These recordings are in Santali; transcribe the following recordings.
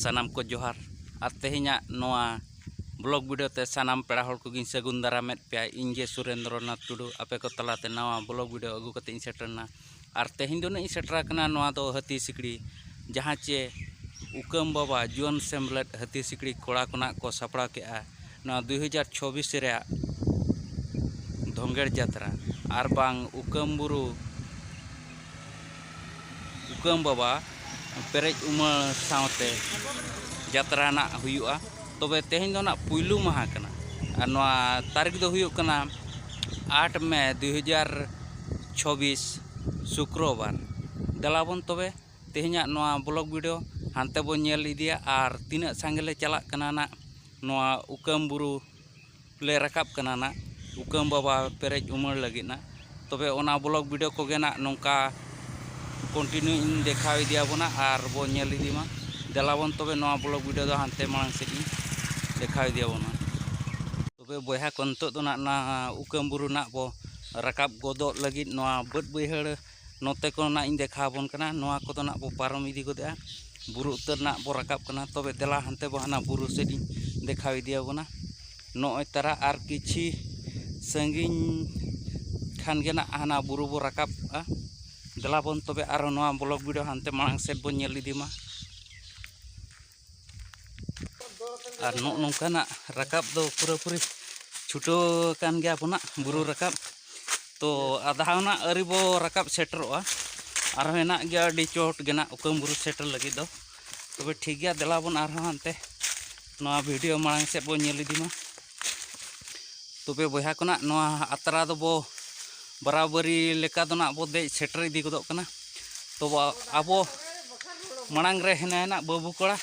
ᱥᱟᱱᱟᱢ ᱠᱚ ᱡᱚᱦᱟᱨ ᱟᱨ ᱛᱮᱦᱮᱧᱟᱜ ᱱᱚᱣᱟ ᱵᱞᱚᱜ ᱵᱷᱤᱰᱤᱭᱳ ᱛᱮ ᱥᱟᱱᱟᱢ ᱯᱮᱲᱟ ᱦᱚᱲ ᱠᱚᱜᱮᱧ ᱥᱟᱹᱜᱩᱱ ᱫᱟᱨᱟᱢᱮᱫ ᱯᱮᱭᱟ ᱤᱧ ᱜᱮ ᱥᱩᱨᱮᱱᱫᱨᱚᱱᱟᱛᱷ ᱴᱩᱰᱩ ᱟᱯᱮ ᱠᱚ ᱛᱟᱞᱟᱛᱮ ᱱᱟᱣᱟ ᱵᱞᱚᱜ ᱵᱷᱤᱰᱤᱭᱳ ᱟᱹᱜᱩ ᱠᱟᱛᱮᱫ ᱤᱧ ᱥᱮᱴᱮᱨᱮᱱᱟ ᱟᱨ ᱛᱮᱦᱮᱧ ᱫᱚ ᱱᱟᱹᱜ ᱤᱧ ᱥᱮᱴᱮᱨ ᱟᱠᱟᱱᱟ ᱱᱚᱣᱟ ᱫᱚ ᱦᱟᱹᱛᱤ ᱥᱤᱠᱲᱤ ᱡᱟᱦᱟᱸ ᱪᱮ ᱩᱠᱟᱹᱢ ᱵᱟᱵᱟ ᱡᱩᱣᱟᱹᱱ ᱥᱮᱢᱞᱮᱫ ᱦᱟᱹᱛᱤ ᱥᱤᱠᱲᱤ ᱠᱚᱲᱟ ᱠᱷᱚᱱᱟᱜ ᱠᱚ ᱥᱟᱯᱲᱟᱣ ᱠᱮᱜᱼᱟ ᱱᱚᱣᱟ ᱫᱩᱭ ᱦᱟᱡᱟᱨ ᱪᱷᱚᱵᱤᱥ ᱨᱮᱭᱟᱜ ᱫᱷᱚᱸᱜᱮᱲ ᱡᱟᱛᱨᱟ ᱟᱨ ᱵᱟᱝ ᱩᱠᱟᱹᱢ ᱵᱩᱨᱩ ᱩᱠᱟᱹᱢ ᱵᱟᱵᱟ ᱯᱮᱨᱮᱡ ᱩᱢᱟᱹᱲ ᱥᱟᱶᱛᱮ ᱡᱟᱛᱨᱟ ᱱᱟᱜ ᱦᱩᱭᱩᱜᱼᱟ ᱛᱚᱵᱮ ᱛᱮᱦᱮᱧ ᱫᱚ ᱱᱟᱜ ᱯᱩᱭᱞᱩ ᱢᱟᱦᱟ ᱠᱟᱱᱟ ᱟᱨ ᱱᱚᱣᱟ ᱛᱟᱹᱨᱤᱠᱷ ᱫᱚ ᱦᱩᱭᱩᱜ ᱠᱟᱱᱟ ᱟᱴ ᱢᱮ ᱫᱩ ᱦᱟᱡᱟᱨ ᱪᱷᱚᱵᱵᱤᱥ ᱥᱩᱠᱨᱚᱵᱟᱨ ᱫᱮᱞᱟ ᱵᱚᱱ ᱛᱚᱵᱮ ᱛᱮᱦᱮᱧᱟᱜ ᱱᱚᱣᱟ ᱵᱞᱚᱜᱽ ᱵᱷᱤᱰᱤᱭᱳ ᱦᱟᱱᱛᱮ ᱵᱚᱱ ᱧᱮᱞ ᱤᱫᱤᱭᱟ ᱟᱨ ᱛᱤᱱᱟᱹᱜ ᱥᱟᱸᱜᱮ ᱞᱮ ᱪᱟᱞᱟᱜ ᱠᱟᱱᱟ ᱱᱟᱜ ᱱᱚᱣᱟ ᱩᱠᱟᱹᱢ ᱵᱩᱨᱩ ᱞᱮ ᱨᱟᱠᱟᱵ ᱠᱟᱱᱟ ᱱᱟᱜ ᱩᱠᱟᱹᱢ ᱵᱟᱵᱟ ᱯᱮᱨᱮᱡ ᱩᱢᱟᱹᱲ ᱞᱟᱹᱜᱤᱫ ᱱᱟᱜ ᱛᱚᱵᱮ ᱚᱱᱟ ᱵᱞᱚᱜᱽ ᱵᱷᱤᱰᱤᱭᱳ ᱠᱚᱜᱮ ᱱᱟᱜ ᱱᱚᱝᱠᱟ ᱠᱚᱱᱴᱤᱱᱤᱭᱩ ᱤᱧ ᱫᱮᱠᱷᱟᱣ ᱤᱫᱤ ᱟᱵᱚᱱᱟ ᱟᱨ ᱵᱚ ᱧᱮᱞ ᱤᱫᱤ ᱢᱟ ᱫᱮᱞᱟ ᱵᱚᱱ ᱛᱚᱵᱮ ᱱᱚᱣᱟ ᱵᱞᱚᱜᱽ ᱵᱷᱤᱰᱤᱭᱳ ᱫᱚ ᱦᱟᱱᱛᱮ ᱢᱟᱲᱟᱝ ᱥᱮᱫ ᱤᱧ ᱫᱮᱠᱷᱟᱣ ᱤᱫᱤ ᱟᱵᱚᱱᱟ ᱛᱚᱵᱮ ᱵᱚᱭᱦᱟ ᱠᱚ ᱱᱤᱛᱚᱜ ᱫᱚ ᱱᱟᱜ ᱚᱱᱟ ᱩᱠᱟᱹᱢ ᱵᱩᱨᱩ ᱱᱟᱜ ᱵᱚ ᱨᱟᱠᱟᱵ ᱜᱚᱫᱚᱜ ᱞᱟᱹᱜᱤᱫ ᱱᱚᱣᱟ ᱵᱟᱹᱫᱽ ᱵᱟᱹᱭᱦᱟᱹᱲ ᱱᱚᱛᱮ ᱠᱚ ᱱᱟᱜ ᱤᱧ ᱫᱮᱠᱷᱟᱣ ᱟᱵᱚᱱ ᱠᱟᱱᱟ ᱱᱚᱣᱟ ᱠᱚᱫᱚ ᱱᱟᱜ ᱵᱚ ᱯᱟᱨᱚᱢ ᱤᱫᱤ ᱜᱚᱫᱮᱜᱼᱟ ᱵᱩᱨᱩ ᱩᱛᱟᱹᱨ ᱱᱟᱜ ᱵᱚ ᱨᱟᱠᱟᱵ ᱠᱟᱱᱟ ᱛᱚᱵᱮ ᱫᱮᱞᱟ ᱦᱟᱱᱛᱮ ᱵᱚ ᱦᱟᱱᱟ ᱵᱩᱨᱩ ᱥᱮᱫ ᱤᱧ ᱫᱮᱠᱷᱟᱣ ᱤᱫᱤ ᱟᱵᱚᱱᱟ ᱱᱚᱜᱼᱚᱭ ᱛᱟᱨᱟ ᱟᱨ ᱠᱤᱪᱷᱤ ᱥᱟᱺᱜᱤᱧ ᱠᱷᱟᱱ ᱜᱮ ᱱᱟᱜ ᱦᱟᱱᱟ ᱵᱩᱨᱩ ᱵᱚ ᱨᱟᱠᱟᱵᱼᱟ ᱫᱮᱞᱟ ᱵᱚᱱ ᱛᱚᱵᱮ ᱟᱨᱚ ᱱᱚᱣᱟ ᱵᱞᱚᱠ ᱵᱷᱤᱰᱤᱭᱳ ᱦᱟᱱᱛᱮ ᱢᱟᱲᱟᱝ ᱥᱮᱫ ᱵᱚᱱ ᱧᱮᱞ ᱤᱫᱤ ᱢᱟ ᱟᱨ ᱱᱚᱜᱼᱚ ᱱᱚᱝᱠᱟᱱᱟᱜ ᱨᱟᱠᱟᱵ ᱫᱚ ᱯᱩᱨᱟᱹᱯᱩᱨᱤ ᱪᱷᱩᱴᱟᱹᱣ ᱟᱠᱟᱱ ᱜᱮᱭᱟ ᱟᱵᱚᱱᱟᱜ ᱵᱩᱨᱩ ᱨᱟᱠᱟᱵ ᱛᱚ ᱟᱫᱷᱟᱣᱱᱟᱜ ᱟᱹᱨᱤ ᱵᱚ ᱨᱟᱠᱟᱵ ᱥᱮᱴᱮᱨᱚᱜᱼᱟ ᱟᱨᱦᱚᱸ ᱦᱮᱱᱟᱜ ᱜᱮᱭᱟ ᱟᱹᱰᱤ ᱪᱚᱴ ᱜᱮᱱᱟᱜ ᱩᱠᱟᱹᱢ ᱵᱩᱨᱩ ᱥᱮᱴᱮᱨ ᱞᱟᱹᱜᱤᱫ ᱫᱚ ᱛᱚᱵᱮ ᱴᱷᱤᱠ ᱜᱮᱭᱟ ᱫᱮᱞᱟ ᱵᱚᱱ ᱟᱨᱦᱚᱸ ᱦᱟᱱᱛᱮ ᱱᱚᱣᱟ ᱵᱷᱤᱰᱤᱭᱳ ᱢᱟᱲᱟᱝ ᱥᱮᱫ ᱵᱚᱱ ᱧᱮᱞ ᱤᱫᱤ ᱢᱟ ᱛᱚᱵᱮ ᱵᱚᱭᱦᱟ ᱠᱚ ᱱᱟᱜ ᱱᱚᱣᱟ ᱟᱛᱨᱟ ᱫᱚᱵᱚ ᱵᱟᱨᱟᱵᱟᱹᱨᱤ ᱞᱮᱠᱟ ᱫᱚ ᱱᱟᱜ ᱵᱚ ᱫᱮᱡ ᱥᱮᱴᱮᱨ ᱤᱫᱤ ᱜᱚᱫᱚᱜ ᱠᱟᱱᱟ ᱛᱚᱵᱮ ᱟᱵᱚ ᱢᱟᱲᱟᱝ ᱨᱮ ᱦᱮᱱᱟᱭᱟ ᱱᱟᱜ ᱵᱟᱹᱵᱩ ᱠᱚᱲᱟ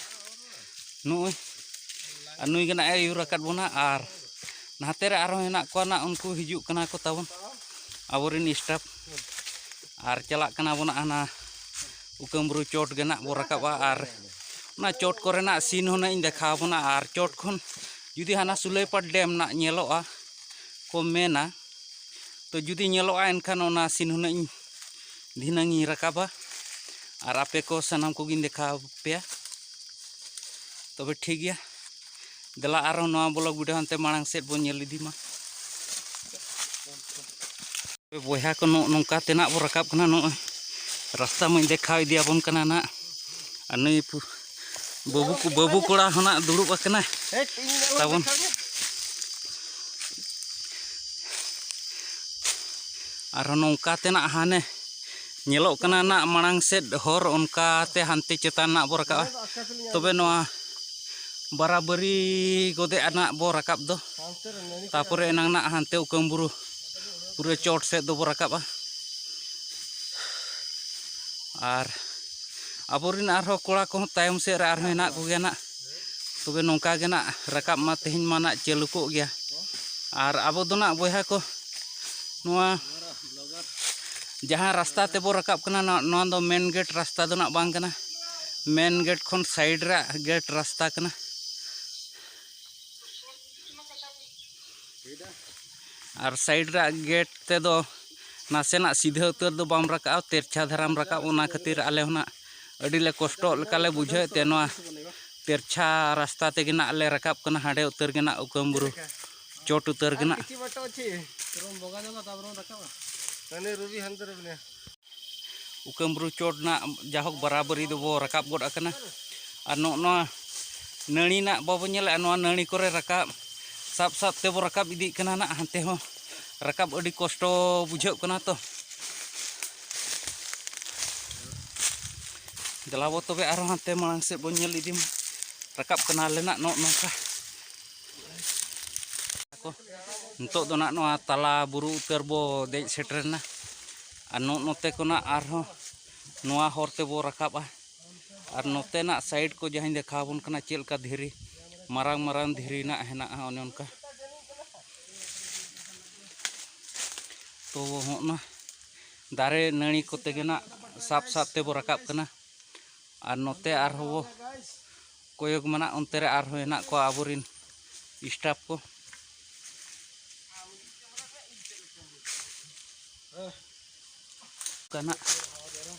ᱱᱩᱭ ᱟᱨ ᱱᱩᱭ ᱜᱮ ᱱᱟᱜ ᱮ ᱟᱹᱭᱩᱨ ᱟᱠᱟᱫ ᱵᱚᱱᱟ ᱟᱨ ᱱᱟᱛᱮ ᱨᱮ ᱟᱨᱦᱚᱸ ᱦᱮᱱᱟᱜ ᱠᱚᱣᱟ ᱱᱟᱜ ᱩᱱᱠᱩ ᱦᱤᱡᱩᱜ ᱠᱟᱱᱟ ᱠᱚ ᱛᱟᱵᱚᱱ ᱟᱵᱚᱨᱮᱱ ᱥᱴᱟᱯ ᱟᱨ ᱪᱟᱞᱟᱜ ᱠᱟᱱᱟ ᱵᱚᱱ ᱦᱟᱱᱟ ᱩᱠᱟᱹᱢᱵᱩᱨᱩ ᱪᱚᱴ ᱜᱮ ᱱᱟᱜ ᱵᱚ ᱨᱟᱠᱟᱵᱟ ᱟᱨ ᱚᱱᱟ ᱪᱚᱴ ᱠᱚᱨᱮᱱᱟᱜ ᱥᱤᱱ ᱦᱚᱸ ᱱᱟᱜ ᱤᱧ ᱫᱮᱠᱷᱟᱣ ᱵᱚᱱᱟ ᱟᱨ ᱪᱚᱴ ᱠᱷᱚᱱ ᱡᱩᱫᱤ ᱦᱟᱱᱟ ᱥᱩᱞᱟᱹᱭᱯᱟᱴ ᱰᱮᱢ ᱨᱮᱱᱟᱜ ᱧᱮᱞᱚᱜᱼᱟ ᱠᱚ ᱢᱮᱱᱟ ᱛᱚ ᱡᱩᱫᱤ ᱧᱮᱞᱚᱜᱼᱟ ᱮᱱᱠᱷᱟᱱ ᱚᱱᱟ ᱥᱤᱱ ᱦᱩᱱᱟᱹᱜ ᱤᱧ ᱫᱷᱤᱱᱟᱹᱝ ᱤᱧ ᱨᱟᱠᱟᱵᱟ ᱟᱨ ᱟᱯᱮ ᱠᱚ ᱥᱟᱱᱟᱢ ᱠᱚᱜᱤᱧ ᱫᱮᱠᱷᱟᱣ ᱯᱮᱭᱟ ᱛᱚᱵᱮ ᱴᱷᱤᱠ ᱜᱮᱭᱟ ᱫᱮᱞᱟ ᱟᱨᱦᱚᱸ ᱱᱚᱣᱟ ᱵᱞᱚᱜ ᱵᱷᱤᱰᱤᱭᱳ ᱦᱟᱱᱛᱮ ᱢᱟᱲᱟᱝ ᱥᱮᱫ ᱵᱚᱱ ᱧᱮᱞ ᱤᱫᱤ ᱢᱟ ᱵᱚᱭᱦᱟ ᱠᱚ ᱱᱚᱜᱼᱚ ᱱᱚᱝᱠᱟ ᱛᱮᱱᱟᱜ ᱵᱚ ᱨᱟᱠᱟᱵ ᱠᱟᱱᱟ ᱱᱚᱜᱼᱚᱭ ᱨᱟᱥᱛᱟ ᱢᱟᱹᱧ ᱫᱮᱠᱷᱟᱣ ᱤᱫᱤᱭᱟᱵᱚᱱ ᱠᱟᱱᱟ ᱱᱟᱜ ᱟᱨ ᱱᱟᱹᱭ ᱵᱟᱹᱵᱩ ᱵᱟᱹᱵᱩ ᱠᱚᱲᱟ ᱦᱚᱱᱟᱜ ᱫᱩᱲᱩᱵ ᱟᱠᱟᱱᱟ ᱛᱟᱵᱚᱱ ᱟᱨᱦᱚᱸ ᱱᱚᱝᱠᱟ ᱛᱮᱱᱟᱜ ᱦᱟᱱᱮ ᱧᱮᱞᱚᱜ ᱠᱟᱱᱟ ᱱᱟᱜ ᱢᱟᱲᱟᱝ ᱥᱮᱫ ᱦᱚᱨ ᱚᱱᱠᱟᱛᱮ ᱦᱟᱱᱛᱮ ᱪᱮᱛᱟᱱ ᱱᱟᱜ ᱵᱚ ᱨᱟᱠᱟᱵᱟ ᱛᱚᱵᱮ ᱱᱚᱣᱟ ᱵᱟᱨᱟᱵᱟᱹᱨᱤ ᱜᱚᱫᱮ ᱟᱱᱟᱜ ᱵᱚ ᱨᱟᱠᱟᱵ ᱫᱚ ᱛᱟᱯᱚᱨᱮ ᱮᱱᱟᱝ ᱱᱟᱜ ᱦᱟᱱᱛᱮ ᱩᱠᱟᱹᱢ ᱵᱩᱨᱩ ᱯᱩᱨᱟᱹ ᱪᱚᱴ ᱥᱮᱫ ᱫᱚᱵᱚ ᱨᱟᱠᱟᱵᱟ ᱟᱨ ᱟᱵᱚᱨᱮᱱ ᱟᱨᱦᱚᱸ ᱠᱚᱲᱟ ᱠᱚᱦᱚᱸ ᱛᱟᱭᱚᱢ ᱥᱮᱫ ᱨᱮ ᱟᱨᱦᱚᱸ ᱦᱮᱱᱟᱜ ᱠᱚᱜᱮᱭᱟ ᱱᱟᱜ ᱛᱚᱵᱮ ᱱᱚᱝᱠᱟ ᱜᱮ ᱱᱟᱜ ᱨᱟᱠᱟᱵ ᱢᱟ ᱛᱮᱦᱮᱧ ᱢᱟ ᱱᱟᱜ ᱪᱟᱹᱞᱩ ᱠᱚᱜ ᱜᱮᱭᱟ ᱟᱨ ᱟᱵᱚ ᱫᱚ ᱱᱟᱜ ᱵᱚᱭᱦᱟ ᱠᱚ ᱱᱚᱣᱟ ᱡᱟᱦᱟᱸ ᱨᱟᱥᱛᱟ ᱛᱮᱵᱚ ᱨᱟᱠᱟᱵ ᱠᱟᱱᱟ ᱱᱚᱣᱟ ᱫᱚ ᱢᱮᱱ ᱜᱮᱴ ᱨᱟᱥᱛᱟ ᱫᱚ ᱱᱟᱜ ᱵᱟᱝ ᱠᱟᱱᱟ ᱢᱮᱱ ᱜᱮᱴ ᱠᱷᱚᱱ ᱥᱟᱭᱤᱰ ᱨᱮ ᱜᱮᱴ ᱨᱟᱥᱛᱟ ᱠᱟᱱᱟ ᱟᱨ ᱥᱟᱭᱤᱰ ᱨᱮᱭᱟᱜ ᱜᱮᱴ ᱛᱮᱫᱚ ᱱᱟᱥᱮᱱᱟᱜ ᱥᱤᱫᱷᱟᱹ ᱩᱛᱟᱹᱨ ᱫᱚ ᱵᱟᱢ ᱨᱟᱠᱟᱵᱼᱟ ᱛᱮᱨᱪᱷᱟ ᱫᱷᱟᱨᱟᱢ ᱨᱟᱠᱟᱵ ᱚᱱᱟ ᱠᱷᱟᱹᱛᱤᱨ ᱟᱞᱮ ᱦᱚᱸ ᱱᱟᱜ ᱟᱹᱰᱤ ᱞᱮ ᱠᱚᱥᱴᱚᱜ ᱞᱮᱠᱟ ᱞᱮ ᱵᱩᱡᱷᱟᱹᱣᱮᱫ ᱛᱮ ᱱᱚᱣᱟ ᱛᱮᱨᱪᱷᱟ ᱨᱟᱥᱛᱟ ᱛᱮᱜᱮ ᱱᱟᱜ ᱞᱮ ᱨᱟᱠᱟᱵ ᱠᱟᱱᱟ ᱦᱟᱸᱰᱮ ᱩᱛᱟᱹᱨ ᱜᱮ ᱱᱟᱜ ᱩᱠᱟᱹᱢ ᱵᱩᱨᱩ ᱪᱚᱴ ᱩᱛᱟᱹᱨ ᱜᱮ ᱱᱟᱜ ᱩᱠᱟᱹᱢᱵᱨᱩ ᱪᱚᱴ ᱨᱮᱱᱟᱜ ᱡᱟᱦᱳᱠ ᱵᱟᱨᱟᱵᱟᱹᱨᱤ ᱫᱚᱵᱚ ᱨᱟᱠᱟᱵ ᱜᱚᱫ ᱟᱠᱟᱱᱟ ᱟᱨ ᱱᱚᱜᱼᱚ ᱱᱚᱣᱟ ᱱᱟᱹᱲᱤ ᱨᱮᱱᱟᱜ ᱵᱟᱵᱚ ᱧᱮᱞᱮᱫᱼᱟ ᱱᱚᱣᱟ ᱱᱟᱹᱲᱤ ᱠᱚᱨᱮ ᱨᱟᱠᱟᱵ ᱥᱟᱵ ᱥᱟᱵ ᱛᱮᱵᱚ ᱨᱟᱠᱟᱵ ᱤᱫᱤᱜ ᱠᱟᱱᱟ ᱱᱟᱜ ᱦᱟᱱᱛᱮ ᱦᱚᱸ ᱨᱟᱠᱟᱵ ᱟᱹᱰᱤ ᱠᱚᱥᱴᱚ ᱵᱩᱡᱷᱟᱹᱜ ᱠᱟᱱᱟ ᱛᱚ ᱫᱮᱞᱟ ᱵᱚ ᱛᱚᱵᱮ ᱟᱨᱦᱚᱸ ᱦᱟᱱᱛᱮ ᱢᱟᱲᱟᱝ ᱥᱮᱫ ᱵᱚ ᱧᱮᱞ ᱤᱫᱤ ᱢᱟ ᱨᱟᱠᱟᱵ ᱠᱟᱱᱟᱞᱮ ᱱᱟᱜ ᱱᱚᱜᱼᱚ ᱱᱚᱝᱠᱟ ᱠᱚ ᱱᱤᱛᱚᱜ ᱫᱚ ᱱᱟᱜ ᱱᱚᱣᱟ ᱛᱟᱞᱟ ᱵᱩᱨᱩ ᱩᱛᱟᱹᱨ ᱵᱚ ᱫᱮᱡ ᱥᱮᱴᱮᱨᱮᱱᱟ ᱟᱨ ᱱᱚᱜ ᱱᱚᱛᱮ ᱠᱷᱚᱱᱟᱜ ᱟᱨᱦᱚᱸ ᱱᱚᱣᱟ ᱦᱚᱨ ᱛᱮᱵᱚ ᱨᱟᱠᱟᱵᱼᱟ ᱟᱨ ᱱᱚᱛᱮᱱᱟᱜ ᱥᱟᱭᱤᱰ ᱠᱚ ᱡᱟᱦᱟᱸᱧ ᱫᱮᱠᱷᱟᱣ ᱟᱵᱚᱱ ᱠᱟᱱᱟ ᱪᱮᱫ ᱞᱮᱠᱟ ᱫᱷᱤᱨᱤ ᱢᱟᱨᱟᱝ ᱢᱟᱨᱟᱝ ᱫᱷᱤᱨᱤ ᱨᱮᱱᱟᱜ ᱦᱮᱱᱟᱜᱼᱟ ᱚᱱᱮ ᱚᱱᱠᱟ ᱛᱚ ᱦᱚᱸᱜᱼᱱᱟ ᱫᱟᱨᱮ ᱱᱟᱹᱲᱤ ᱠᱚᱛᱮ ᱜᱮ ᱱᱟᱜ ᱥᱟᱵ ᱥᱟᱵ ᱛᱮᱵᱚ ᱨᱟᱠᱟᱵ ᱠᱟᱱᱟ ᱟᱨ ᱱᱚᱛᱮ ᱟᱨᱦᱚᱸ ᱵᱚ ᱠᱚᱭᱚᱜ ᱢᱮᱱᱟᱜ ᱚᱱᱛᱮ ᱨᱮ ᱟᱨᱦᱚᱸ ᱦᱮᱱᱟᱜ ᱠᱚᱣᱟ ᱟᱵᱚᱨᱤᱱ ᱥᱴᱟᱯ ᱠᱚ ᱠᱟᱱᱟ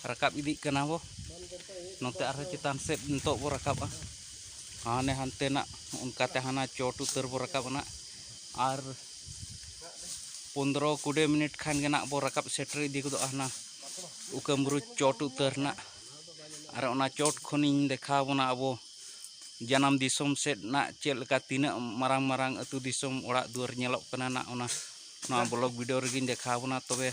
ᱨᱟᱠᱟᱵ ᱤᱫᱤᱜ ᱠᱟᱱᱟ ᱵᱚ ᱱᱚᱛᱮ ᱟᱨᱦᱚᱸ ᱪᱮᱛᱟᱱ ᱥᱮᱫ ᱱᱤᱛᱚᱜ ᱵᱚ ᱨᱟᱠᱟᱵᱟ ᱦᱟᱱᱮ ᱦᱟᱱᱛᱮᱱᱟᱜ ᱚᱱᱠᱟᱛᱮ ᱦᱟᱱᱟ ᱪᱚᱴ ᱩᱛᱟᱹᱨ ᱵᱚ ᱨᱟᱠᱟᱵ ᱱᱟᱜ ᱟᱨ ᱯᱚᱱᱫᱨᱚ ᱠᱩᱲᱤ ᱢᱤᱱᱤᱴ ᱠᱷᱟᱱ ᱜᱮ ᱱᱟᱜ ᱵᱚ ᱨᱟᱠᱟᱵ ᱥᱮᱴᱮᱨ ᱤᱫᱤ ᱜᱚᱫᱚᱜᱼᱟ ᱦᱟᱱᱟ ᱩᱠᱟᱹᱢᱵᱩᱨᱩ ᱪᱚᱴ ᱩᱛᱟᱹᱨ ᱱᱟᱜ ᱟᱨ ᱚᱱᱟ ᱪᱚᱴ ᱠᱷᱚᱱᱤᱧ ᱫᱮᱠᱷᱟᱣ ᱵᱚᱱᱟ ᱟᱵᱚ ᱡᱟᱱᱟᱢ ᱫᱤᱥᱚᱢ ᱥᱮᱫ ᱨᱮᱱᱟᱜ ᱪᱮᱫ ᱞᱮᱠᱟ ᱛᱤᱱᱟᱹᱜ ᱢᱟᱨᱟᱝ ᱢᱟᱨᱟᱝ ᱟᱹᱛᱩ ᱫᱤᱥᱚᱢ ᱚᱲᱟᱜ ᱫᱩᱣᱟᱹᱨ ᱧᱮᱞᱚᱜ ᱠᱟᱱᱟ ᱱᱟᱜ ᱚᱱᱟ ᱱᱚᱣᱟ ᱵᱞᱚᱜ ᱵᱷᱤᱰᱤᱭᱳ ᱨᱮᱜᱮᱧ ᱫᱮᱠᱷᱟᱣ ᱵᱚᱱᱟ ᱛᱚᱵᱮ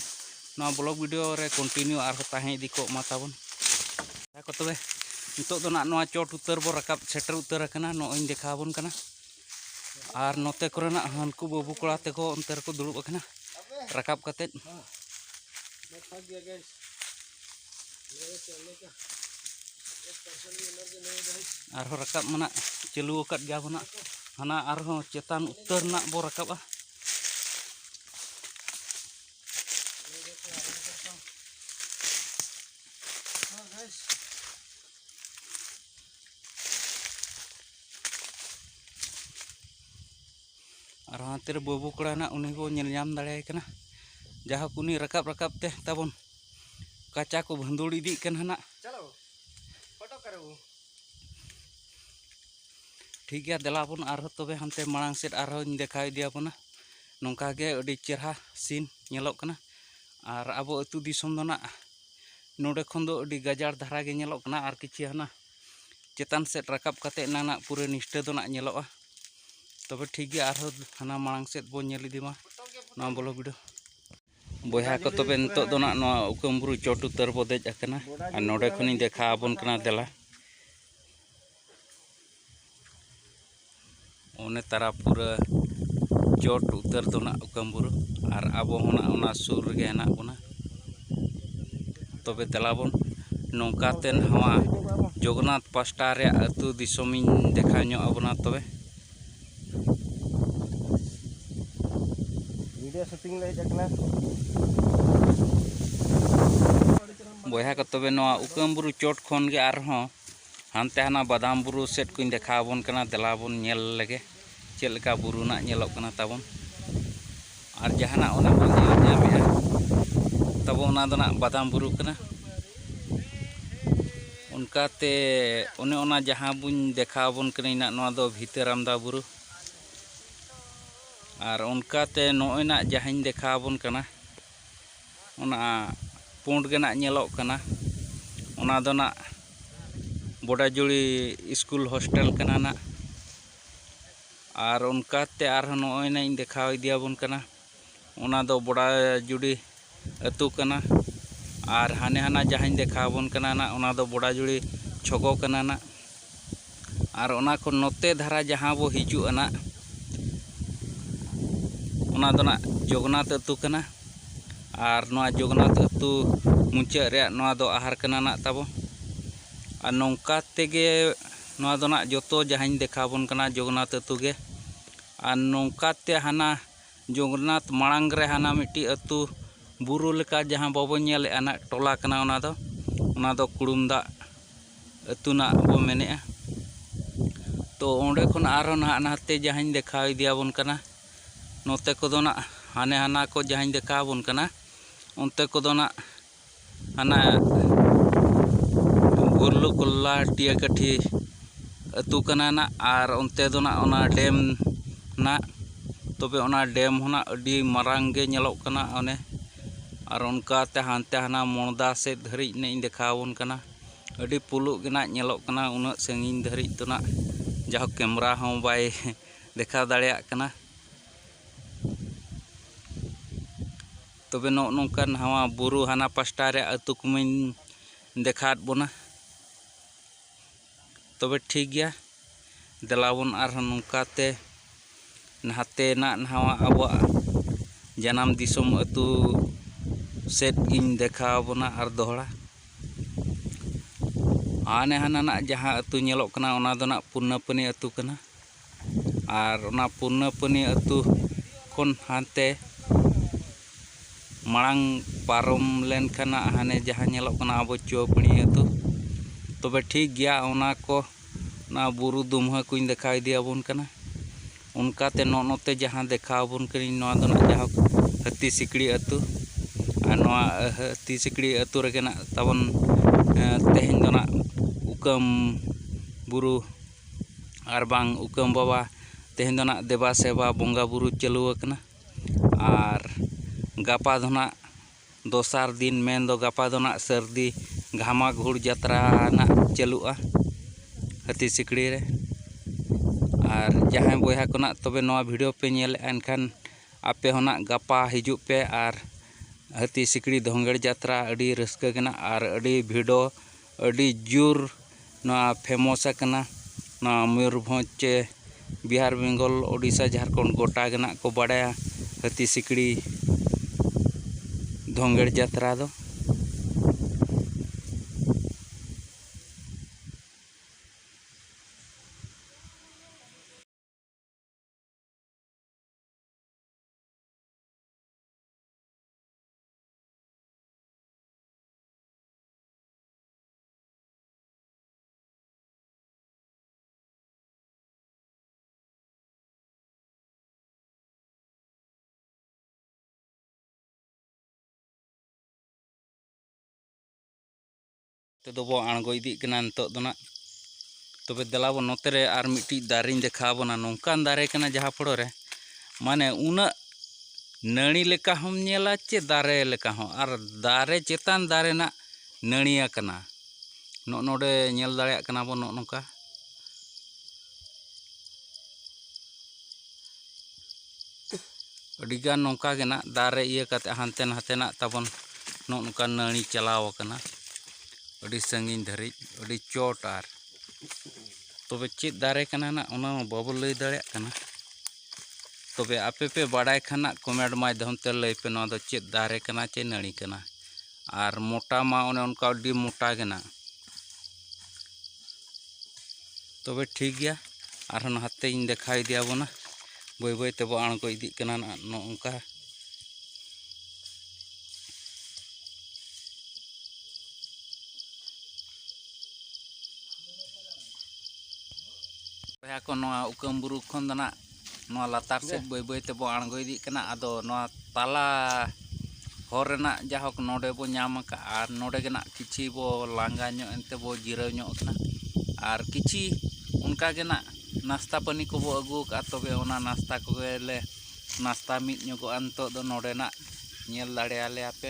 ᱱᱚᱣᱟ ᱵᱞᱚᱜ ᱵᱷᱤᱰᱤᱭᱳ ᱨᱮ ᱠᱚᱱᱴᱤᱱᱤᱭᱩ ᱟᱨᱦᱚᱸ ᱛᱟᱦᱮᱸ ᱤᱫᱤ ᱠᱚᱜ ᱢᱟ ᱛᱟᱵᱚᱱ ᱠᱚ ᱛᱚᱵᱮ ᱱᱤᱛᱚᱜ ᱫᱚ ᱱᱟᱜ ᱱᱚᱣᱟ ᱪᱚᱴ ᱩᱛᱟᱹᱨ ᱵᱚ ᱨᱟᱠᱟᱵ ᱥᱮᱴᱮᱨ ᱩᱛᱟᱹᱨ ᱟᱠᱟᱱᱟ ᱱᱚᱜᱼᱚᱭᱤᱧ ᱫᱮᱠᱷᱟᱣ ᱵᱚᱱ ᱠᱟᱱᱟ ᱟᱨ ᱱᱚᱛᱮ ᱠᱚᱨᱮᱱᱟᱜ ᱦᱟᱹᱱᱠᱩ ᱵᱟᱹᱵᱩ ᱠᱚᱲᱟ ᱛᱮᱠᱚ ᱚᱱᱛᱮ ᱨᱮᱠᱚ ᱫᱩᱲᱩᱵ ᱟᱠᱟᱱᱟ ᱨᱟᱠᱟᱵ ᱠᱟᱛᱮᱫ ᱟᱨᱦᱚᱸ ᱨᱟᱠᱟᱵ ᱢᱟᱱᱟᱜ ᱪᱟᱹᱞᱩ ᱟᱠᱟᱫ ᱜᱮᱭᱟ ᱵᱚᱱᱟ ᱦᱟᱱᱟ ᱟᱨᱦᱚᱸ ᱪᱮᱛᱟᱱ ᱩᱛᱟᱹᱨ ᱨᱮᱱᱟᱜ ᱵᱚ ᱨᱟᱠᱟᱵᱟ ᱟᱨ ᱦᱟᱱᱛᱮ ᱨᱮ ᱵᱟᱹᱵᱩ ᱠᱚᱲᱟ ᱦᱮᱱᱟᱜ ᱩᱱᱤ ᱵᱚᱱ ᱧᱮᱞ ᱧᱟᱢ ᱫᱟᱲᱮᱭᱟᱭ ᱠᱟᱱᱟ ᱡᱟᱦᱳᱠ ᱩᱱᱤ ᱨᱟᱠᱟᱵ ᱨᱟᱠᱟᱵ ᱛᱮ ᱛᱟᱵᱚᱱ ᱠᱟᱪᱟ ᱠᱚ ᱵᱷᱟᱹᱱᱫᱩᱲ ᱤᱫᱤᱜ ᱠᱟᱱᱟ ᱦᱟᱸᱜ ᱴᱷᱤᱠ ᱜᱮᱭᱟ ᱫᱮᱞᱟ ᱵᱚᱱ ᱟᱨᱦᱚᱸ ᱛᱚᱵᱮ ᱦᱟᱱᱛᱮ ᱢᱟᱲᱟᱝ ᱥᱮᱫ ᱟᱨᱦᱚᱸᱧ ᱫᱮᱠᱷᱟᱣ ᱤᱫᱤᱭᱟᱵᱚᱱᱟ ᱱᱚᱝᱠᱟ ᱜᱮ ᱟᱹᱰᱤ ᱪᱮᱨᱦᱟ ᱥᱤᱱ ᱧᱮᱞᱚᱜ ᱠᱟᱱᱟ ᱟᱨ ᱟᱵᱚ ᱟᱹᱛᱩ ᱫᱤᱥᱚᱢ ᱫᱚ ᱱᱟᱜ ᱱᱚᱰᱮ ᱠᱷᱚᱱ ᱫᱚ ᱟᱹᱰᱤ ᱜᱟᱡᱟᱲ ᱫᱷᱟᱨᱟ ᱜᱮ ᱧᱮᱞᱚᱜ ᱠᱟᱱᱟ ᱟᱨ ᱠᱤᱪᱷᱩ ᱦᱟᱱᱟ ᱪᱮᱛᱟᱱ ᱥᱮᱫ ᱨᱟᱠᱟᱵ ᱠᱟᱛᱮ ᱮᱱᱟᱝ ᱱᱟᱜ ᱯᱩᱨᱟᱹ ᱱᱤᱥᱴᱟᱹ ᱫᱚ ᱱᱟᱜ ᱧᱮᱞᱚᱜᱼᱟ ᱛᱚᱵᱮ ᱴᱷᱤᱠ ᱜᱮᱭᱟ ᱟᱨᱦᱚᱸ ᱦᱟᱱᱟ ᱢᱟᱲᱟᱝ ᱥᱮᱫ ᱵᱚᱱ ᱧᱮᱞ ᱤᱫᱤ ᱢᱟ ᱱᱚᱣᱟ ᱵᱚᱞᱚ ᱵᱷᱤᱰᱤᱭᱳ ᱵᱚᱭᱦᱟ ᱠᱚ ᱛᱚᱵᱮ ᱱᱤᱛᱚᱜ ᱫᱚ ᱱᱟᱜ ᱱᱚᱣᱟ ᱩᱠᱟᱹᱢ ᱵᱩᱨᱩ ᱪᱚᱴ ᱩᱛᱟᱹᱨ ᱵᱚ ᱫᱮᱡ ᱟᱠᱟᱱᱟ ᱟᱨ ᱱᱚᱰᱮ ᱠᱷᱚᱱᱤᱧ ᱫᱮᱠᱷᱟᱣ ᱟᱵᱚᱱ ᱠᱟᱱᱟ ᱫᱮᱞᱟ ᱚᱱᱮ ᱛᱟᱨᱟ ᱯᱩᱨᱟᱹ ᱪᱚᱴ ᱩᱛᱟᱹᱨ ᱫᱚ ᱱᱟᱜ ᱚᱠᱟᱢ ᱵᱩᱨᱩ ᱟᱨ ᱟᱵᱚ ᱦᱚᱸ ᱱᱟᱜ ᱚᱱᱟ ᱥᱩᱨ ᱨᱮᱜᱮ ᱦᱮᱱᱟᱜ ᱵᱚᱱᱟ ᱛᱚᱵᱮ ᱫᱮᱞᱟ ᱵᱚᱱ ᱱᱚᱝᱠᱟ ᱛᱮ ᱱᱚᱣᱟ ᱡᱚᱜᱚᱱᱱᱟᱛᱷ ᱯᱟᱥᱴᱟ ᱨᱮᱭᱟᱜ ᱟᱹᱛᱩ ᱫᱤᱥᱚᱢ ᱤᱧ ᱫᱮᱠᱷᱟᱣ ᱧᱚᱜ ᱟᱵᱚᱱᱟ ᱛᱚᱵᱮ ᱵᱷᱤᱰᱤᱭᱳ ᱥᱩᱴᱤᱝ ᱞᱮ ᱦᱮᱡ ᱟᱠᱟᱱᱟ ᱵᱚᱭᱦᱟ ᱠᱚ ᱛᱚᱵᱮ ᱱᱚᱣᱟ ᱩᱠᱟᱹᱢ ᱵᱩᱨᱩ ᱪᱚᱴ ᱠᱷᱚᱱ ᱜᱮ ᱟᱨᱦᱚᱸ ᱦᱟᱱᱛᱮ ᱦᱟᱱᱟ ᱵᱟᱫᱟᱢ ᱵᱩᱨᱩ ᱥᱮᱫ ᱠᱚᱧ ᱫᱮᱠᱷᱟᱣ ᱟᱵᱚᱱ ᱠᱟᱱᱟ ᱫᱮᱞᱟ ᱵᱚᱱ ᱧᱮᱞ ᱞᱮᱜᱮ ᱪᱮᱫ ᱞᱮᱠᱟ ᱵᱩᱨᱩ ᱱᱟᱜ ᱧᱮᱞᱚᱜ ᱠᱟᱱᱟ ᱛᱟᱵᱚᱱ ᱟᱨ ᱡᱟᱦᱟᱱᱟᱜ ᱚᱱᱮ ᱵᱚᱱ ᱧᱮᱞ ᱧᱟᱢᱮᱜᱼᱟ ᱛᱟᱵᱚ ᱚᱱᱟ ᱫᱚ ᱱᱟᱜ ᱵᱟᱫᱟᱢ ᱵᱩᱨᱩ ᱠᱟᱱᱟ ᱚᱱᱠᱟᱛᱮ ᱚᱱᱮ ᱚᱱᱟ ᱡᱟᱦᱟᱸ ᱵᱚᱱ ᱫᱮᱠᱷᱟᱣ ᱟᱵᱚᱱ ᱠᱟᱱᱟ ᱱᱟᱜ ᱱᱚᱣᱟ ᱫᱚ ᱵᱷᱤᱛᱟᱹᱨᱟᱢᱫᱟ ᱵᱩᱨᱩ ᱟᱨ ᱚᱱᱠᱟᱛᱮ ᱱᱚᱜᱼᱚᱭ ᱱᱟᱜ ᱡᱟᱦᱟᱸᱧ ᱫᱮᱠᱷᱟᱣ ᱟᱵᱚᱱ ᱠᱟᱱᱟ ᱚᱱᱟ ᱯᱩᱸᱰ ᱜᱮ ᱱᱟᱜ ᱧᱮᱞᱚᱜ ᱠᱟᱱᱟ ᱚᱱᱟ ᱫᱚ ᱱᱟᱜ ᱵᱚᱰᱟᱡᱩᱲᱤ ᱥᱠᱩᱞ ᱦᱳᱥᱴᱮᱞ ᱠᱟᱱᱟ ᱱᱟᱜ ᱟᱨ ᱚᱱᱠᱟᱛᱮ ᱟᱨᱦᱚᱸ ᱱᱚᱜᱼᱚᱭ ᱱᱟᱜ ᱤᱧ ᱫᱮᱠᱷᱟᱣ ᱤᱫᱤᱭᱟᱵᱚᱱ ᱠᱟᱱᱟ ᱚᱱᱟ ᱫᱚ ᱵᱚᱰᱟᱡᱩᱲᱤ ᱟᱹᱛᱩ ᱠᱟᱱᱟ ᱟᱨ ᱦᱟᱱᱮ ᱦᱟᱱᱟ ᱡᱟᱦᱟᱸᱧ ᱫᱮᱠᱷᱟᱣ ᱟᱵᱚᱱ ᱠᱟᱱᱟ ᱱᱟᱜ ᱚᱱᱟ ᱫᱚ ᱵᱚᱰᱟᱡᱩᱲᱤ ᱪᱷᱚᱠᱚ ᱠᱟᱱᱟ ᱱᱟᱜ ᱟᱨ ᱚᱱᱟ ᱠᱷᱚᱱ ᱱᱚᱛᱮ ᱫᱷᱟᱨᱟ ᱡᱟᱦᱟᱸ ᱵᱚ ᱦᱤᱡᱩᱜᱼᱟ ᱱᱟᱜ ᱚᱱᱟ ᱫᱚ ᱱᱟᱜ ᱡᱚᱜᱚᱱᱟᱛᱷ ᱟᱹᱛᱩ ᱠᱟᱱᱟ ᱟᱨ ᱱᱚᱣᱟ ᱡᱚᱜᱚᱱᱟᱛᱷ ᱟᱹᱛᱩ ᱢᱩᱪᱟᱹᱫ ᱨᱮᱭᱟᱜ ᱱᱚᱣᱟ ᱫᱚ ᱟᱦᱟᱨ ᱠᱟᱱᱟ ᱱᱟᱜ ᱛᱟᱵᱚ ᱟᱨ ᱱᱚᱝᱠᱟ ᱛᱮᱜᱮ ᱱᱚᱣᱟ ᱫᱚ ᱱᱟᱜ ᱡᱚᱛᱚ ᱡᱟᱦᱟᱸᱧ ᱫᱮᱠᱷᱟᱣ ᱟᱵᱚᱱ ᱠᱟᱱᱟ ᱡᱚᱜᱚᱱᱟᱛᱷ ᱟᱹᱛᱩ ᱜᱮ ᱟᱨ ᱱᱚᱝᱠᱟᱛᱮ ᱦᱟᱱᱟ ᱡᱚᱜᱚᱱᱱᱟᱛᱷ ᱢᱟᱲᱟᱝ ᱨᱮ ᱦᱟᱱᱟ ᱢᱤᱫᱴᱤᱡ ᱟᱹᱛᱩ ᱵᱩᱨᱩ ᱞᱮᱠᱟ ᱡᱟᱦᱟᱸ ᱵᱟᱵᱚᱱ ᱧᱮᱞᱮᱫᱼᱟ ᱦᱟᱸᱜ ᱴᱚᱞᱟ ᱠᱟᱱᱟ ᱚᱱᱟ ᱫᱚ ᱚᱱᱟ ᱫᱚ ᱠᱩᱲᱩᱢ ᱫᱟᱜ ᱟᱹᱛᱩ ᱱᱟᱜ ᱵᱚ ᱢᱮᱱᱮᱫᱼᱟ ᱛᱚ ᱚᱸᱰᱮ ᱠᱷᱚᱱ ᱟᱨᱦᱚᱸ ᱱᱟᱦᱟᱜ ᱱᱟᱛᱮ ᱡᱟᱦᱟᱸᱧ ᱫᱮᱠᱷᱟᱣ ᱤᱫᱤ ᱟᱵᱚᱱ ᱠᱟᱱᱟ ᱱᱚᱛᱮ ᱠᱚᱫᱚ ᱦᱟᱸᱜ ᱦᱟᱱᱮ ᱦᱟᱱᱟ ᱠᱚ ᱡᱟᱦᱟᱸᱧ ᱫᱮᱠᱷᱟᱣ ᱟᱵᱚᱱ ᱠᱟᱱᱟ ᱚᱱᱛᱮ ᱠᱚᱫᱚ ᱦᱟᱸᱜ ᱦᱟᱱᱟ ᱜᱩᱨᱞᱩ ᱠᱚᱞᱞᱟ ᱴᱤᱭᱟᱹ ᱠᱟᱹᱴᱷᱤ ᱟᱹᱛᱩ ᱠᱟᱱᱟ ᱱᱟᱜ ᱟᱨ ᱚᱱᱛᱮ ᱫᱚ ᱱᱟᱜ ᱚᱱᱟ ᱰᱮᱢ ᱱᱟᱜ ᱛᱚᱵᱮ ᱚᱱᱟ ᱰᱮᱢ ᱦᱚᱸ ᱱᱟᱜ ᱟᱹᱰᱤ ᱢᱟᱨᱟᱝ ᱜᱮ ᱧᱮᱞᱚᱜ ᱠᱟᱱᱟ ᱚᱱᱮ ᱟᱨ ᱚᱱᱠᱟᱛᱮ ᱦᱟᱱᱛᱮ ᱦᱟᱱᱟ ᱢᱚᱬᱫᱟ ᱥᱮᱫ ᱫᱷᱟᱹᱨᱤᱡ ᱱᱟᱜ ᱤᱧ ᱫᱮᱠᱷᱟᱣ ᱟᱵᱚᱱ ᱠᱟᱱᱟ ᱟᱹᱰᱤ ᱯᱩᱞᱩᱜ ᱜᱮ ᱱᱟᱜ ᱧᱮᱞᱚᱜ ᱠᱟᱱᱟ ᱩᱱᱟᱹᱜ ᱥᱟᱺᱜᱤᱧ ᱫᱷᱟᱹᱨᱤᱡ ᱫᱚ ᱱᱟᱜ ᱡᱟᱦᱳᱠ ᱠᱮᱢᱨᱟ ᱦᱚᱸ ᱵᱟᱭ ᱫᱮᱠᱷᱟᱣ ᱫᱟᱲᱮᱭᱟᱜ ᱠᱟᱱᱟ ᱛᱚᱵᱮ ᱱᱚᱜᱼᱚ ᱱᱚᱝᱠᱟ ᱱᱟᱣᱟ ᱵᱩᱨᱩ ᱦᱟᱱᱟ ᱯᱟᱥᱴᱟ ᱨᱮ ᱟᱹᱛᱩ ᱠᱚᱢᱟᱹᱧ ᱫᱮᱠᱷᱟᱣᱟᱫ ᱵᱚᱱᱟ ᱛᱚᱵᱮ ᱴᱷᱤᱠ ᱜᱮᱭᱟ ᱫᱮᱞᱟ ᱵᱚᱱ ᱟᱨᱦᱚᱸ ᱱᱚᱝᱠᱟᱛᱮ ᱱᱟᱛᱮᱱᱟᱜ ᱱᱟᱣᱟ ᱟᱵᱚᱣᱟᱜ ᱡᱟᱱᱟᱢ ᱫᱤᱥᱚᱢ ᱟᱹᱛᱩ ᱥᱮᱫ ᱜᱤᱧ ᱫᱮᱠᱷᱟᱣ ᱵᱚᱱᱟ ᱟᱨ ᱫᱚᱦᱲᱟ ᱦᱟᱱᱮ ᱦᱟᱱᱟᱱᱟᱜ ᱡᱟᱦᱟᱸ ᱟᱹᱛᱩ ᱧᱮᱞᱚᱜ ᱠᱟᱱᱟ ᱚᱱᱟ ᱫᱚ ᱱᱟᱜ ᱯᱩᱨᱱᱟᱯᱟᱹᱱᱤ ᱟᱹᱛᱩ ᱠᱟᱱᱟ ᱟᱨ ᱚᱱᱟ ᱯᱩᱨᱱᱟᱯᱟᱹᱱᱤ ᱟᱹᱛᱩ ᱠᱷᱚᱱ ᱦᱟᱱᱛᱮ ᱢᱟᱲᱟᱝ ᱯᱟᱨᱚᱢ ᱞᱮᱱᱠᱷᱟᱱ ᱦᱟᱱᱮ ᱡᱟᱦᱟᱸ ᱧᱮᱞᱚᱜ ᱠᱟᱱᱟ ᱟᱵᱚ ᱪᱩᱣᱟᱹᱯᱟᱹᱲᱤ ᱟᱹᱛᱩ ᱛᱚᱵᱮ ᱴᱷᱤᱠ ᱜᱮᱭᱟ ᱚᱱᱟ ᱠᱚ ᱚᱱᱟ ᱵᱩᱨᱩ ᱫᱩᱢᱦᱟᱹ ᱠᱚᱧ ᱫᱮᱠᱷᱟᱣ ᱤᱫᱤᱭᱟᱵᱚᱱ ᱠᱟᱱᱟ ᱚᱱᱠᱟᱛᱮ ᱱᱚᱜᱼᱚ ᱱᱚᱛᱮ ᱡᱟᱦᱟᱸ ᱫᱮᱠᱷᱟᱣ ᱟᱵᱚᱱ ᱠᱟᱹᱱᱟᱹᱧ ᱱᱚᱣᱟ ᱫᱚ ᱦᱟᱸᱜ ᱡᱟᱭᱦᱳᱠ ᱦᱟᱹᱛᱤ ᱥᱤᱠᱲᱤ ᱟᱹᱛᱩ ᱟᱨ ᱱᱚᱣᱟ ᱦᱟᱹᱛᱤ ᱥᱤᱠᱲᱤ ᱟᱹᱛᱩ ᱨᱮᱜᱮ ᱦᱟᱸᱜ ᱛᱟᱵᱚᱱ ᱛᱮᱦᱮᱧ ᱫᱚ ᱦᱟᱸᱜ ᱠᱩᱠᱟᱹᱢ ᱵᱩᱨᱩ ᱟᱨ ᱵᱟᱝ ᱩᱠᱟᱹᱢ ᱵᱟᱵᱟ ᱛᱮᱦᱮᱧ ᱫᱚ ᱦᱟᱸᱜ ᱫᱮᱵᱟ ᱥᱮᱵᱟ ᱵᱚᱸᱜᱟ ᱵᱳᱨᱳ ᱪᱟᱹᱞᱩ ᱟᱠᱟᱱᱟ ᱟᱨ ᱜᱟᱯᱟ ᱫᱚ ᱦᱟᱸᱜ ᱫᱚᱥᱟᱨ ᱫᱤᱱ ᱢᱮᱱ ᱫᱚ ᱜᱟᱯᱟ ᱫᱚ ᱦᱟᱸᱜ ᱥᱟᱹᱨᱫᱤ ᱜᱷᱟᱢᱟ ᱜᱷᱩᱲ ᱡᱟᱛᱨᱟ ᱦᱟᱸᱜ ᱪᱟᱹᱞᱩᱜᱼᱟ ᱦᱟᱹᱛᱤ ᱥᱤᱠᱲᱤ ᱨᱮ ᱟᱨ ᱡᱟᱦᱟᱸᱭ ᱵᱚᱭᱦᱟ ᱠᱚ ᱦᱟᱸᱜ ᱛᱚᱵᱮ ᱱᱚᱣᱟ ᱵᱷᱤᱰᱭᱳ ᱯᱮ ᱧᱮᱞᱮᱫᱼᱟ ᱮᱱᱠᱷᱟᱱ ᱟᱯᱮ ᱦᱚᱸ ᱦᱟᱸᱜ ᱜᱟᱯᱟ ᱦᱤᱡᱩᱜ ᱯᱮ ᱟᱨ ᱦᱟᱹᱛᱤ ᱥᱤᱠᱲᱤ ᱫᱷᱚᱝᱜᱚᱲ ᱡᱟᱛᱨᱟ ᱟᱹᱰᱤ ᱨᱟᱹᱥᱠᱟᱹ ᱜᱮ ᱦᱟᱸᱜ ᱟᱨ ᱟᱹᱰᱤ ᱵᱷᱤᱲ ᱦᱚᱸ ᱟᱹᱰᱤ ᱡᱳᱨ ᱱᱚᱣᱟ ᱯᱷᱮᱢᱚᱥ ᱟᱠᱟᱱᱟ ᱱᱚᱣᱟ ᱢᱚᱭᱩᱨᱵᱷᱚᱸᱡᱽ ᱪᱮ ᱵᱤᱦᱟᱨ ᱵᱮᱝᱜᱚᱞ ᱳᱰᱤᱥᱟ ᱡᱷᱟᱲᱠᱷᱚᱸᱰ ᱜᱳᱴᱟ ᱜᱮ ᱦᱟᱸᱜ ᱠᱚ ᱵᱟᱲᱟᱭᱟ ᱦᱟᱹᱛᱤ ᱥᱤᱠᱲᱤ ᱫᱷᱚᱸᱜᱮᱲ ᱡᱟᱛᱨᱟ ᱫᱚ ᱛᱮᱫᱚ ᱵᱚ ᱟᱬᱜᱚ ᱤᱫᱤᱜ ᱠᱟᱱᱟ ᱱᱤᱛᱚᱜ ᱫᱚ ᱱᱟᱜ ᱛᱚᱵᱮ ᱫᱮᱞᱟ ᱵᱚ ᱱᱚᱛᱮ ᱨᱮ ᱟᱨ ᱢᱤᱫᱴᱤᱡ ᱫᱟᱨᱮᱧ ᱫᱮᱠᱷᱟᱣ ᱵᱚᱱᱟ ᱱᱚᱝᱠᱟᱱ ᱫᱟᱨᱮ ᱠᱟᱱᱟ ᱡᱟᱦᱟᱸ ᱯᱷᱳᱲᱳ ᱨᱮ ᱢᱟᱱᱮ ᱩᱱᱟᱹᱜ ᱱᱟᱹᱲᱤ ᱞᱮᱠᱟ ᱦᱚᱸᱢ ᱧᱮᱞᱟ ᱪᱮ ᱫᱟᱨᱮ ᱞᱮᱠᱟ ᱦᱚᱸ ᱟᱨ ᱫᱟᱨᱮ ᱪᱮᱛᱟᱱ ᱫᱟᱨᱮ ᱱᱟᱜ ᱱᱟᱹᱲᱤ ᱟᱠᱟᱱᱟ ᱱᱚᱜᱼᱚ ᱱᱚᱰᱮ ᱧᱮᱞ ᱫᱟᱲᱮᱭᱟᱜ ᱠᱟᱱᱟ ᱵᱚᱱ ᱱᱚᱜᱼᱚ ᱱᱚᱝᱠᱟ ᱟᱹᱰᱤ ᱜᱟᱱ ᱱᱚᱝᱠᱟ ᱜᱮ ᱱᱟᱜ ᱫᱟᱨᱮ ᱤᱭᱟᱹ ᱠᱟᱛᱮ ᱦᱟᱱᱛᱮ ᱱᱟᱛᱮ ᱱᱟᱜ ᱛᱟᱵᱚᱱ ᱱᱚᱜᱼᱚ ᱱᱚᱝᱠᱟ ᱱᱟᱹᱲᱤ ᱪᱟᱞᱟᱣ ᱟᱠᱟᱱᱟ ᱟᱹᱰᱤ ᱥᱟᱺᱜᱤᱧ ᱫᱷᱟᱹᱨᱤᱡ ᱟᱹᱰᱤ ᱪᱚᱴ ᱟᱨ ᱛᱚᱵᱮ ᱪᱮᱫ ᱫᱟᱨᱮ ᱠᱟᱱᱟ ᱱᱟᱜ ᱚᱱᱟ ᱢᱟ ᱵᱟᱵᱚ ᱞᱟᱹᱭ ᱫᱟᱲᱮᱭᱟᱜ ᱠᱟᱱᱟ ᱛᱚᱵᱮ ᱟᱯᱮ ᱯᱮ ᱵᱟᱲᱟᱭ ᱠᱷᱟᱱ ᱦᱟᱸᱜ ᱠᱚᱢᱮᱱᱴ ᱢᱟᱫᱽᱫᱷᱚᱢ ᱛᱮ ᱞᱟᱹᱭ ᱯᱮ ᱱᱚᱣᱟ ᱫᱚ ᱪᱮᱫ ᱫᱟᱨᱮ ᱠᱟᱱᱟ ᱪᱮ ᱱᱟᱹᱲᱤ ᱠᱟᱱᱟ ᱟᱨ ᱢᱚᱴᱟ ᱢᱟ ᱚᱱᱮ ᱚᱱᱠᱟ ᱟᱹᱰᱤ ᱢᱚᱴᱟ ᱜᱮ ᱱᱟᱜ ᱛᱚᱵᱮ ᱴᱷᱤᱠ ᱜᱮᱭᱟ ᱟᱨᱦᱚᱸ ᱱᱟᱦᱟᱛᱮᱧ ᱫᱮᱠᱷᱟᱣ ᱤᱫᱤᱭᱟᱵᱚᱱᱟ ᱵᱟᱹᱭ ᱵᱟᱹᱭ ᱛᱮᱵᱚ ᱟᱬᱜᱚ ᱤᱫᱤᱜ ᱠᱟᱱᱟ ᱱᱟᱜ ᱱᱚᱝᱠᱟ ᱵᱚᱭᱦᱟ ᱠᱚ ᱱᱚᱣᱟ ᱩᱠᱟᱹᱢ ᱵᱩᱨᱩ ᱠᱷᱚᱱ ᱫᱚ ᱱᱟᱜ ᱱᱚᱣᱟ ᱞᱟᱛᱟᱨ ᱥᱮᱫ ᱵᱟᱹᱭ ᱵᱟᱹᱭ ᱛᱮᱵᱚ ᱟᱬᱜᱚ ᱤᱫᱤᱜ ᱠᱟᱱᱟ ᱟᱫᱚ ᱱᱚᱣᱟ ᱛᱟᱞᱟ ᱦᱚᱨ ᱨᱮᱱᱟᱜ ᱡᱟᱭᱦᱳᱠ ᱱᱚᱰᱮ ᱵᱚ ᱧᱟᱢ ᱟᱠᱟᱫᱼᱟ ᱟᱨ ᱱᱚᱰᱮ ᱜᱮ ᱱᱟᱜ ᱠᱤᱪᱷᱤ ᱵᱚ ᱞᱟᱸᱜᱟ ᱧᱚᱜ ᱮᱱᱛᱮ ᱵᱚ ᱡᱤᱨᱟᱹᱣ ᱧᱚᱜ ᱟᱠᱟᱱᱟ ᱟᱨ ᱠᱤᱪᱷᱤ ᱚᱱᱠᱟ ᱜᱮ ᱱᱟᱜ ᱱᱟᱥᱛᱟ ᱯᱟᱹᱱᱤ ᱠᱚᱵᱚ ᱟᱹᱜᱩ ᱟᱠᱟᱫᱼᱟ ᱛᱚᱵᱮ ᱚᱱᱟ ᱱᱟᱥᱛᱟ ᱠᱚᱜᱮ ᱞᱮ ᱱᱟᱥᱛᱟ ᱢᱤᱫ ᱧᱚᱜᱚᱜᱼᱟ ᱱᱤᱛᱚᱜ ᱫᱚ ᱱᱚᱰᱮᱱᱟᱜ ᱧᱮᱞ ᱫᱟᱲᱮᱭᱟᱞᱮᱭᱟ ᱯᱮ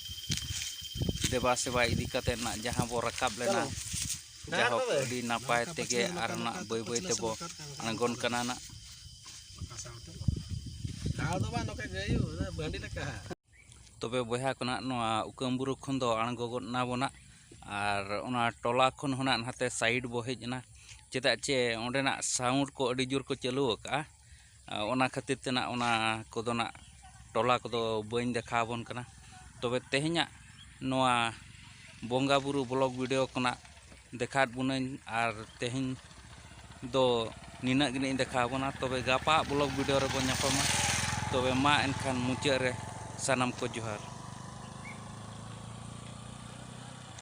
ᱫᱮᱵᱟ ᱥᱮᱵᱟ ᱤᱫᱤ ᱠᱟᱛᱮ ᱱᱟᱜ ᱡᱟᱦᱟᱸ ᱵᱚ ᱨᱟᱠᱟᱵ ᱞᱮᱱᱟ ᱡᱟᱦᱳᱠ ᱟᱹᱰᱤ ᱱᱟᱯᱟᱭ ᱛᱮᱜᱮ ᱟᱨ ᱱᱟᱜ ᱵᱟᱹᱭ ᱵᱟᱹᱭ ᱛᱮᱵᱚ ᱟᱬᱜᱚᱱ ᱠᱟᱱᱟ ᱱᱟᱜ ᱛᱚᱵᱮ ᱵᱚᱭᱦᱟ ᱠᱚ ᱱᱟᱜ ᱱᱚᱣᱟ ᱩᱠᱟᱹᱢ ᱵᱩᱨᱩ ᱠᱷᱚᱱ ᱫᱚ ᱟᱬᱜᱚ ᱜᱚᱫ ᱮᱱᱟ ᱵᱚ ᱱᱟᱜ ᱟᱨ ᱚᱱᱟ ᱴᱚᱞᱟ ᱠᱷᱚᱱ ᱦᱚᱸ ᱱᱟᱜ ᱱᱟᱛᱮ ᱥᱟᱭᱤᱰ ᱵᱚ ᱦᱮᱡ ᱮᱱᱟ ᱪᱮᱫᱟᱜ ᱪᱮ ᱚᱸᱰᱮᱱᱟᱜ ᱥᱟᱣᱩᱱᱰ ᱠᱚ ᱟᱹᱰᱤ ᱡᱳᱨ ᱠᱚ ᱪᱟᱹᱞᱩ ᱟᱠᱟᱫᱼᱟ ᱚᱱᱟ ᱠᱷᱟᱹᱛᱤᱨ ᱛᱮ ᱱᱟᱜ ᱚᱱᱟ ᱠᱚᱫᱚ ᱱᱟᱜ ᱴᱚᱞᱟ ᱠᱚᱫᱚ ᱵᱟᱹᱧ ᱫᱮᱠᱷᱟᱣ ᱟᱵᱚᱱ ᱠᱟᱱᱟ ᱛᱚᱵᱮ ᱛᱮᱦᱮᱧᱟᱜ ᱱᱚᱣᱟ ᱵᱚᱸᱜᱟ ᱵᱳᱨᱳ ᱵᱞᱚᱠ ᱵᱷᱤᱰᱤᱭᱳ ᱠᱷᱚᱱᱟᱜ ᱫᱮᱠᱷᱟᱣ ᱟᱫ ᱵᱚᱱᱟᱹᱧ ᱟᱨ ᱛᱮᱦᱮᱧ ᱫᱚ ᱱᱤᱱᱟᱹᱜ ᱜᱮ ᱱᱟᱜ ᱤᱧ ᱫᱮᱠᱷᱟᱣ ᱟᱵᱚᱱᱟ ᱛᱚᱵᱮ ᱜᱟᱯᱟ ᱟᱜ ᱵᱞᱚᱠ ᱵᱷᱤᱰᱤᱭᱳ ᱨᱮᱵᱚᱱ ᱧᱟᱯᱟᱢᱟ ᱛᱚᱵᱮ ᱢᱟ ᱮᱱᱠᱷᱟᱱ ᱢᱩᱪᱟᱹᱫ ᱨᱮ ᱥᱟᱱᱟᱢ ᱠᱚ ᱡᱚᱦᱟᱨ